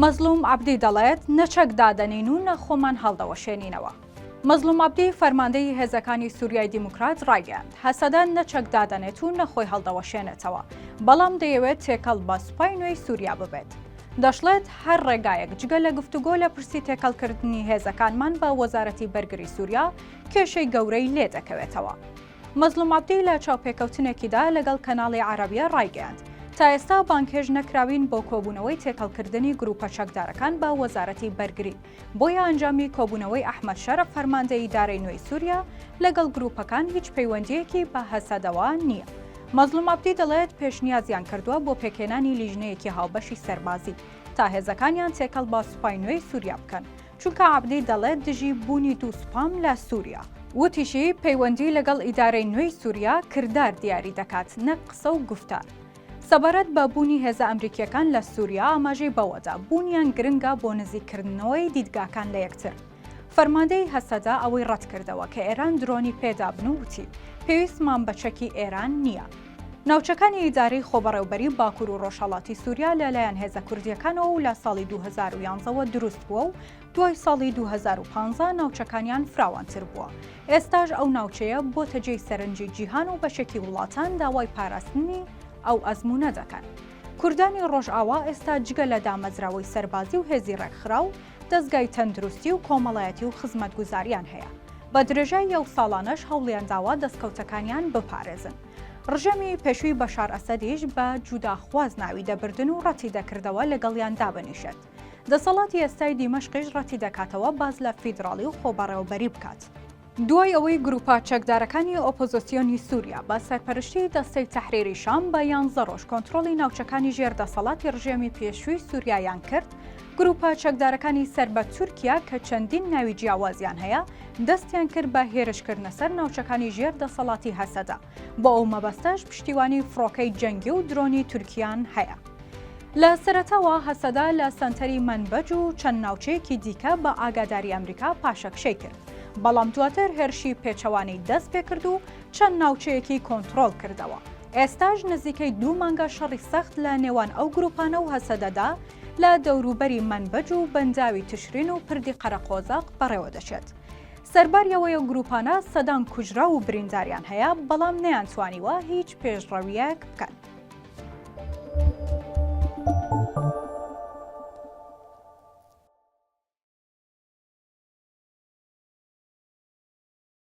مەزڵوم عەبدی دەڵێت، نە چەک دادەنین و نە خۆمان هەڵدەوەشێنینەوە. مەزڵوم عەبدی، فەرماندەیی هێزەکانی سووریای دیموکرات ڕایگەیاند، هەسەدە نە چەک دادەنێت و نە خۆی هەڵدەوەشێنێتەوە، بەڵام دەیەوێت تێکەڵ بە سوپای نوێی سووریا ببێت. دەشڵێت، هەر ڕێگایەک جگە لە گفتوگۆ لە پرسی تێکەڵکردنی هێزەکانمان بە وەزارەتی بەرگری سووریا، کێشەی گەورەی لێ دەکەوێتەوە. مەزڵوم عەبدی لە چاوپێکەوتنێکیدا لەگەڵ کەناڵی عەرەبیە ڕایگەیاند، تا ئێستا بانگهێشت نەکراوین بۆ کۆبوونەوەی تێکەڵکردنی گرووپە چەکدارەکان بە وەزارەتی بەرگری، بۆیە ئەنجامی کۆبوونەوەی ئەحمەد شەرع فەرماندەی ئیدارەی نوێی سووریا لەگەڵ گرووپەکان هیچ پەیوەندییەکی بە هەسەدەوە نییە. مەزڵوم عەبدی دەڵێت، پێشنیازیان کردووە بۆ پێکهێنانی لیژنەیەکی هاوبەشی سەربازی، تا هێزەکانیان تێکەڵ بە سوپای نوێی سووریا بکەن، چونکە عەبدی دەڵێت دژی بوونی دوو سوپام لە سووریا. وتیشی، پەیوەندی لەگەڵ ئیدارەی نوێی سووریا کردار دیاری دەکات نەک قسە و گوفتار. سەبارەت بە بوونی هێزە ئەمریکییەکان لە سووریا ئاماژەی بەوەدا، بوونیان گرنگە بۆ نزیککردنەوەی دیدگاکان لە یەکتر. فەرماندەیی هەسەدە ئەوەی ڕەتکردەوە کە ئێران درۆنی پێدابن و وتی، پێویستمان بە چەکی ئێران نییە. ناوچەکانی ئیدارەی خۆبەڕێوبەری باکور و ڕۆژهەڵاتی سوریا لە لایەن هێزە کوردییەکانەوە و لە ساڵی دوو هەزار و یانزە وە دروست بووە و دوای ساڵی دوو هەزار و پانزە ناوچەکانیان فراوانتر بووە. ئێستاش ئەو ناوچەیە بۆتە جێی سەرنجی جیهان و بەشێکی وڵاتان داوای پاراستنی ئەو ئەزموونە دەکەن. کوردانی ڕۆژئاوا ئێستا جگە لە دامەزراوەی سەربازی و هێزی ڕێکخراو، دەزگای تەندروستی و کۆمەڵایەتی و خزمەتگوزاریان هەیە، بە درێژای یەو ساڵانەش هەوڵیان داوە دەستکەوتەکانیان بپارێزن. ڕژێمی پێشووی بەشار ئەسەدیش بە جوداخواز ناوی دەبردن و ڕەتی دەکردەوە لەگەڵیان دابنیشێت. دەسەڵاتی ئێستای دیمەشقیش ڕەتی دەکاتەوە باس لە فیدراڵی و خۆبەڕێوەبەری بکات. دوای ئەوەی گروپە چەکدارەکانی ئۆپۆزۆسیۆنی سووریا بە سەرپەرشتی دەستەی تەحریری شام بە یانزە ڕۆژ کۆنترۆڵی ناوچەکانی ژێر دەسەڵاتی ڕژێمی پێشووی سووریایان کرد، گروپە چەکدارەکانی سەر بە تورکیا کە چەندین ناوی جیاوازیان هەیە، دەستیان کرد بە هێرشکردنە سەر ناوچەکانی ژێر دەسەڵاتی هەسەدە. بۆ ئەو مەبەستەش پشتیوانی فڕۆکەی جەنگی و درۆنی تورکیان هەیە. لە سەرەتاوە هەسەدە لە سەنتەری مەنبەج و چەند ناوچەیەکی دیکە بە ئاگاداری ئەمریکا پاشەکشەی کرد، بەڵام دواتر هێرشی پێچەوانەی دەست پێکرد و چەند ناوچەیەکی کۆنتڕۆڵ کردەوە. ئێستاش نزیکەی دوو مانگە شەڕی سەخت لە نێوان ئەو گروپانە و هەسەدەدا لە دەوروبەری مەنبەج و بەنداوی تشرین و پردی قەرەقۆزەق بەڕێوە دەچێت. سەرباری ئەوەی گروپانە سەدان کوژراو و برینداریان هەیە، بەڵام نەیانتوانیوە هیچ پێشڕەویەک بکەن.